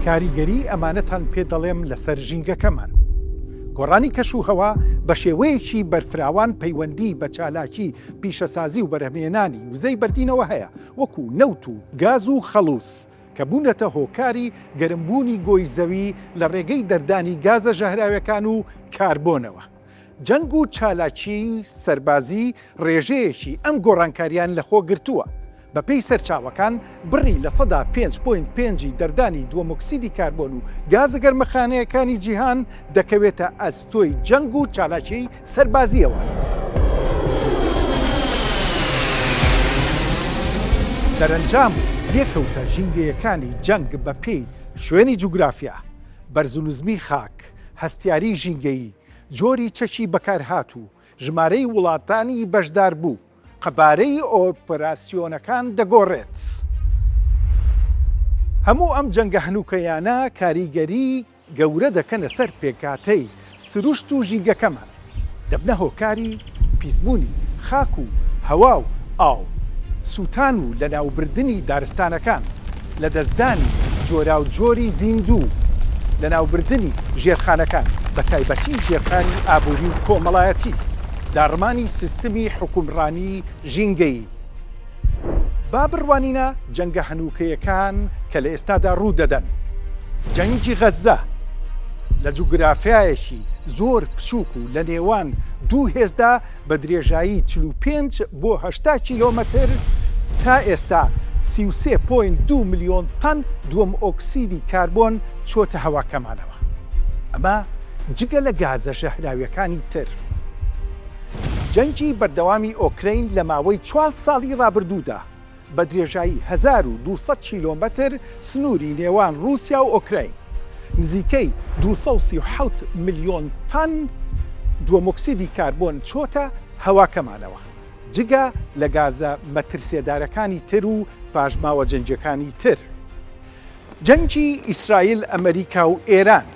کاریگەریی ئەمانەتان پێ دەڵێم لەسەر ژینگەکەمان. گۆڕانی کەشوهەوا بە شێوەیەکی بەرفراوان پەیوەندیی بە چالاکی پیشەسازی و بەرهەمهێنانی وزەی بەردینەوە هەیە، وەکو نەوت و گاز و خەڵوز، کە بوونەتە هۆکاری گەرمبوونی گۆی زەوی لە ڕێگەی دەردانی گازە ژەهراویەکان و کاربۆنەوە. جەنگ و چالاکیی سەربازی ڕێژەیەکی ئەم گۆڕانکارییان لەخۆ گرتووە. بەپێی سەرچاوەکان، بڕی لە سەدا پێنج پۆینت پێنج ی دەردانی دووەمۆکسیدی کاربۆن و گازە گەرمەخانەیەکانی جیهان دەکەوێتە ئەستۆی جەنگ و چالاکیی سەربازییەوە. دەرەنجام و لێکەوتە ژینگەیەکانی جەنگ بەپێی شوێنی جوگرافیا، بەرزونزمی خاک، هەستیاری ژینگەیی، جۆری چەکی بەکارهاتوو، ژمارەی وڵاتانی بەشداربوو، قەبارەی ئۆپراسیۆنەکان دەگۆڕێت. هەموو ئەم جەنگە هەنووکەیانە کاریگەری گەورە دەکەنە سەر پێکهاتەی سروشت و ژینگەکەمان. دەبنە هۆکاری پیسبوونی خاک و هەوا و ئاو، سووتان و لەناوبردنی دارستانەکان، لەدەستدانی جۆراوجۆری زیندوو، لەناوبردنی ژێرخانەکان، بەتایبەتی ژێرخانی ئابووری و کۆمەڵایەتی، داڕمانی سیستمی حوکمڕانیی ژینگەیی. با بڕوانینە جەنگە هەنووکەیەکان کە لە ئێستادا ڕوو دەدەن. جەنگی غەززە لە جوگرافیایەکی زۆر بچووک و لە نێوان دوو هێزدا بە درێژایی چل و پێنج بۆ هەشتا کیلۆمەتر تا ئێستا سی و سێ پۆینت دوو ملیۆن تەن دووەم ئۆکسیدی کاربۆن چۆتە هەواکەمانەوە ئەمە جگە لە گازە ژەهراویەکانی تر. جەنگی بەردەوامی ئۆکرەین لە ماوەی چوار ساڵی ڕابردوودا بە درێژایی هەزار و دوو سەد کیلۆمەتر سنووری نێوان ڕووسیا و ئۆکرەین نزیکەی دوو سەد و سی و حەوت ملیۆن تەن دووەمۆکسیدی کاربۆن چۆتە هەواکەمانەوە جگە لە گازە مەترسێدارەکانی تر و پاشماوە جەنگیەکانی تر. جەنگی ئیسرائیل، ئەمریکا و ئێران.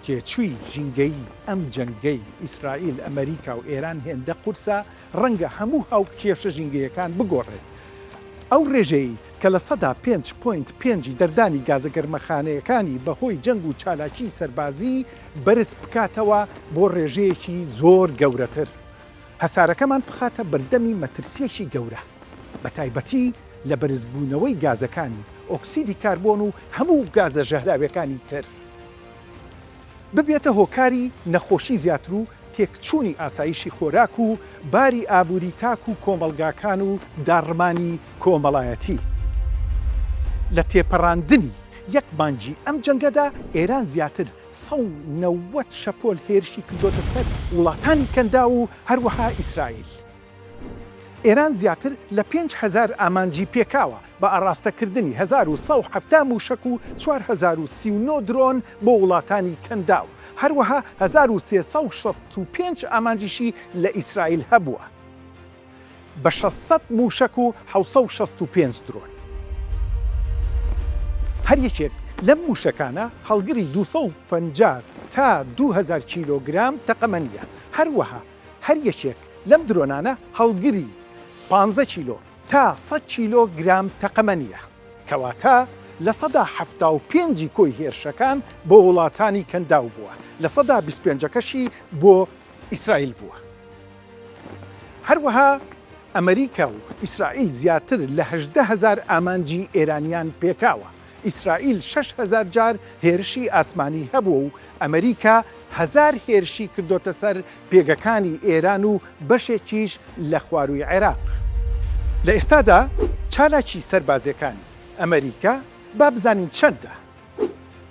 تێچووی ژینگەیی ئەم جەنگەی ئیسرائیل، ئەمەریکا و ئێران هێندە قورسە، ڕەنگە هەموو هاوکێشە ژینگەیەکان بگۆڕێت. ئەو ڕێژەیەی کە لە سەدا پێنج پۆینت پێنجی دەردانی گازە گەرمەخانەیەکانی بەهۆی جەنگ و چالاکیی سەربازی بەرز بکاتەوە بۆ ڕێژەیەکی زۆر گەورەتر، هەسارەکەمان بخاتە بەردەمی مەترسییەکی گەورە، بەتایبەتی لە بەرزبوونەوەی گازەکانی ئۆکسیدی کاربۆن و هەموو گازە ژەهراوییەکانی تر. ببێتە هۆکاری نەخۆشی زیاتر و تێکچوونی ئاسایشی خۆراک و باری ئابووری تاک و کۆمەڵگاکان و داڕمانی کۆمەڵایەتی. لە تێپەڕاندنی یەک مانگی ئەم جەنگەدا ئێران زیاتر سەد و نەوەد شەپۆل هێرشی کردۆتە سەر وڵاتانی کەنداو و هەروەها ئیسرائیل. ئێران زیاتر لە پێنج هەزار ئامانجی پێکاوە بە ئاڕاستەکردنی هەزار و سەد و حەفتا مووشەک و چوار هەزار و سی و نۆ درۆن بۆ وڵاتانی کەنداو، هەروەها هەزار و سێ سەد و شەست و پێنج ئامانجیشی لە ئیسرائیل هەبووە بە شەش سەد مووشەک و حەوت سەد و شەست و پێنج درۆن. هەر یەکێک لەم مووشەکانە هەڵگری دوو سەد و پەنجا تا دوو هەزار کیلۆگرام تەقەمەنییە، هەروەها هەر یەکێک لەم درۆنانە هەڵگری پانزە کیلۆ تا سەد کیلۆ گرام تەقەمەنییە، کەواتە لە سەدا حەفتا و پێنجی کۆی هێرشەکان بۆ وڵاتانی کەنداو بووە، لە سەدا بیست پێنجەکەشی بۆ ئیسرائیل بووە. هەروەها ئەمەریکا و ئیسرائیل زیاتر لە هەژدە هەزار ئامانجی ئێرانیان پێکاوە. ئیسرائیل شەش هەزار جار هێرشی ئاسمانی هەبووە و ئەمریکا هەزار هێرشی کردۆتە سەر پێگەکانی ئێران و بەشێکیش لە خوارووی عێراق. لە ئێستادا چالاکی سەربازییەکانی ئەمریکا با بزانین چەندە؟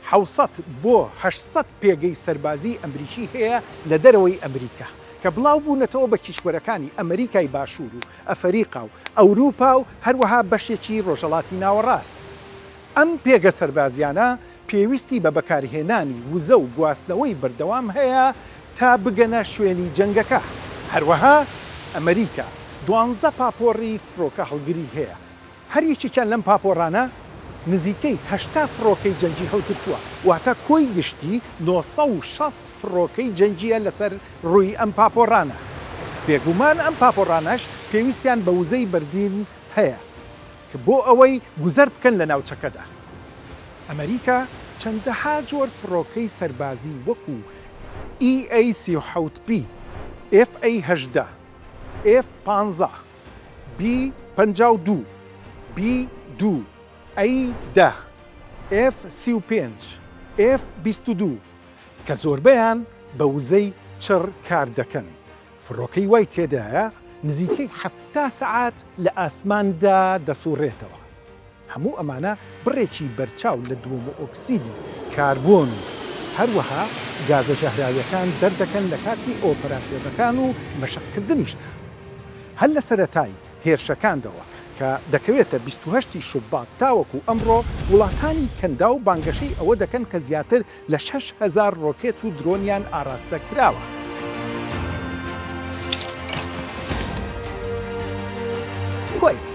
حەوت سەد بۆ هەشت سەد پێگەی سەربازیی ئەمریکی هەیە لە دەرەوەی ئەمریکا کە بڵاو بوونەتەوە بە کیشوەرەکانی ئەمریکای باشوور و ئەفەریقا و ئەوروپا و هەروەها بەشێکی ڕۆژهەڵاتی ناوەڕاست. ئەم پێگە سەربازییانە پێویستی بە بەکارهێنانی وزە و گواستنەوەی بەردەوام هەیە تا بگەنە شوێنی جەنگەکە. هەروەها ئەمریکا دوانزە پاپۆڕی فڕۆکەهەڵگری هەیە. هەر یەکێکیان لەم پاپۆڕانە نزیکەی هەشتا فڕۆکەی جەنگی هەڵگرتووە، واتە کۆی گشتی نۆ سەد و شەست فڕۆکەی جەنگییە لەسەر رووی ئەم پاپۆڕانە. بێگومان ئەم پاپۆڕانەش پێویستیان بە وزەی بەردین هەیە ک بۆ ئەوەی گوزەر بکەن لە ناوچەکەدا. ئەمەریکا چەندەها جۆر فڕۆکەی سەربازی وەکو، ئی ئەی سی و حەوت بی، ئێف ئەی هەژدە، ئێف پانزە، بی پەنجا و دوو بی دوو ئەی دە ئێف سی و پێنج ئێف بیست و دوو کە زۆربەیان بە وزەی چڕ کار دەکەن فڕۆکەی وای تێدایە نزیکەی حەفتا سەعات لە ئاسماندا دەسوڕێتەوە. هەموو ئەمانە بڕێکی بەرچاو لە دووەمئۆکسیدی کاربۆن و هەروەها گازە ژەهراویەکان دەردەکەن لە کاتی ئۆپەراسیۆنەکان و مەشقکردنیشدا. هەر لە سەرەتای هێرشەکاندەوە کە دەکەوێتە بیست و هەشت ی شوبات تاوەکو ئەمڕۆ، وڵاتانی کەنداو بانگەشەی ئەوە دەکەن کە زیاتر لە شەش هەزار ڕۆکێت و درۆنیان ئاراستە کراوە. کوەیت،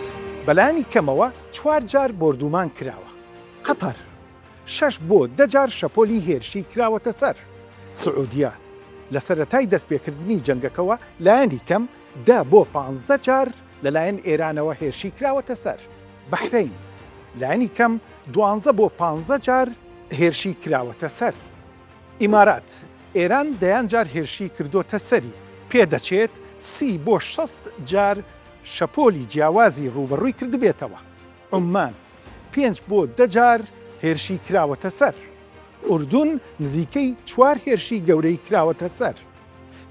بەلانی کەمەوە چوار جار بۆردوومان کراوە. قەتەر، شەش بۆ دە جار شەپۆلی هێرشی کراوەتە سەر. سعودیە، لە سەرەتای دەستپێکردنی جەنگەکەوە لایەنی کەم دە بۆ پانزە جار لەلایەن ئێرانەوە هێرشی کراوەتە سەر. بەحرەین لانی کەم دوانزە بۆ پانزە جار هێرشی کراوەتە سەر ئیمارات، ئێران دەیان جار هێرشی کردۆتە سەری، پێدەچێت سی بۆ شەست جار شەپۆلی جیاوازی ڕووبەڕووی کردبێتەوە، عوممان پێنج بۆ دە جار هێرشی کراوەتە سەر، ئوردون نزیکەی چوار هێرشی گەورەی کراوەتە سەر،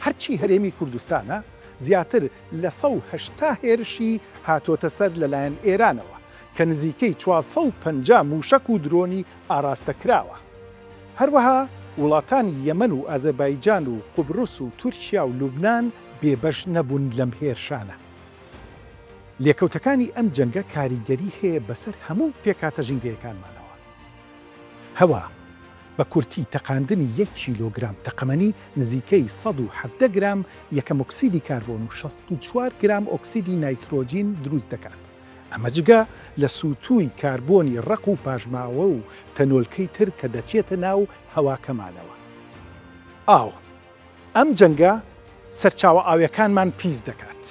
هەرچی هەرێمی کوردستانە زیاتر لە سەد و هەشتا هێرشی هاتۆتە سەر لەلایەن ئێرانەوە کە نزیکەی چوار سەد و پەنجا مووشەک و درۆنی ئاراستە کراوە. هەروەها وڵاتانی یەمەن و ئازەربایجان و قوبرس و تورکیا و لوبنان بێبەش نەبوون لەم هێرشانە. لێکەوتەکانی ئەم جەنگە کاریگەری هەیە بەسەر هەموو پێکهاتە ژینگەیەکانمانەوە. هەوا، بە کورتی تەقاندنی یەک کیلۆگرام تەقەمەنی نزیکەی سەد و حەڤدە گرام یەکەم ئۆکسیدی کاربۆن و شەست و چوار گرام ئۆکسیدی نایترۆجین دروست دەکات، ئەمە جگە لە سووتووی کاربۆنی ڕەق و پاشماوە و تەنۆلکەی تر کە دەچێتە ناو هەواکەمانەوە. ئاو. ئەم جەنگە سەرچاوە ئاویەکانمان پیس دەکات.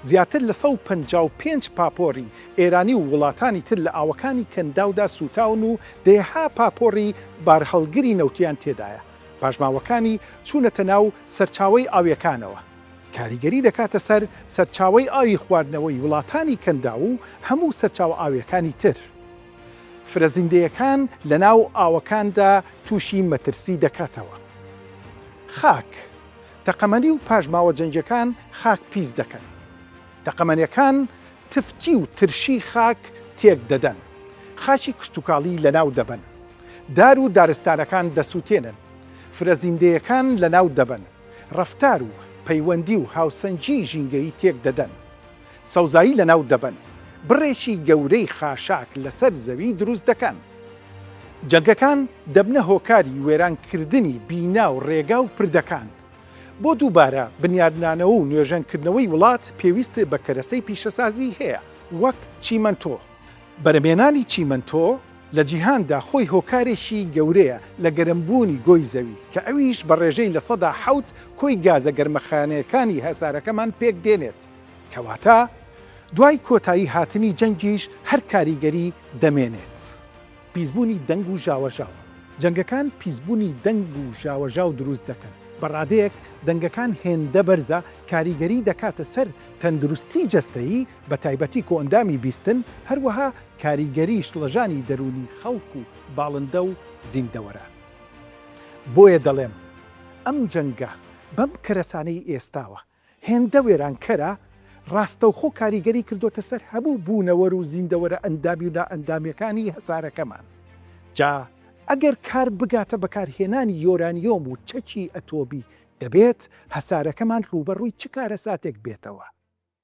زیاتر لە سەد و پەنجا و پێنج پاپۆری ئێرانی و وڵاتانی تر لە ئاوەکانی کەنداودا سووتاون و دەیەها پاپۆری بارهەڵگری نەوتیان تێدایە. پاشماوەکانی چوونەتە ناو سەرچاوەی ئاویەکانەوە. کاریگەری دەکاتە سەر سەرچاوەی ئاوی خواردنەوەی وڵاتانی کەنداو و هەموو سەرچاوە ئاویەکانی تر. فرەزیندەیەکان لەناو ئاوەکاندا تووشی مەترسی دەکاتەوە. خاک، تەقەمەنی و پاشماوە جەنگیەکان خاک پیس دەکەن. تەقەمەنەکان تفتی و ترشی خاک تێک دەدەن. خاکی کشتوکاڵی لەناو دەبەن. دار و دارستانەکان دەسوتێنن. فرەزیندەیەکان لەناو دەبەن. ڕەفتار و پەیوەندی و هاوسەنگی ژینگەیی تێک دەدەن. سەوزایی لەناو دەبەن، بڕێکی گەورەی خاشاک لەسەر زەوی دروست دەکەن. جەنگەکان دەبنە هۆکاری وێرانکردنی بینا و ڕێگا و پردەکان. بۆ دووبارە بنیادنانەوە و نۆژەنکردنەوەی وڵات پێویست بە کەرەسەی پیشەسازیی هەیە وەک چیمەنتۆ. بەرهەمهێنانی چیمەنتۆ لە جیهاندا خۆی هۆکارێکی گەورەیە لە گەرمبوونی گۆی زەوی، کە ئەویش بە ڕێژەی لە سەدا حەوت کۆی گازە گەرمەخانەیەکانی هەسارەکەمان پێکدێنێت. کەواتە دوای کۆتایی هاتنی جەنگیش هەر کاریگەری دەمێنێت. پیسبوونی دەنگ و ژاوەژاو، جەنگەکان پیسبوونی دەنگ و ژاوەژاو دروست دەکەن، بە ڕادەیەک دەنگەکان هێندە بەرزە کاریگەری دەکاتە سەر تەندروستی جەستەیی بە تایبەتی کۆئەندامی بیستن، هەروەها کاریگەری شڵەژانی دەروونی خەڵک و باڵندە و زیندەوەران. بۆیە دەڵێم ئەم جەنگە بەم کەرەسانەی ئێستاوە هێندە وێرانکەرە، ڕاستەوخۆ کاریگەری کردۆتە سەر هەموو بوونەوەر و زیندەوەرە ئەندامی و نائەندامیەکانی هەسارەکەمان. جا ئەگەر کار بگاتە بەکارهێنانی یۆرانیۆم و چەکی ئەتۆمی، دەبێت هەسارەکەمان ڕووبەڕووی چ کارەساتێک بێتەوە؟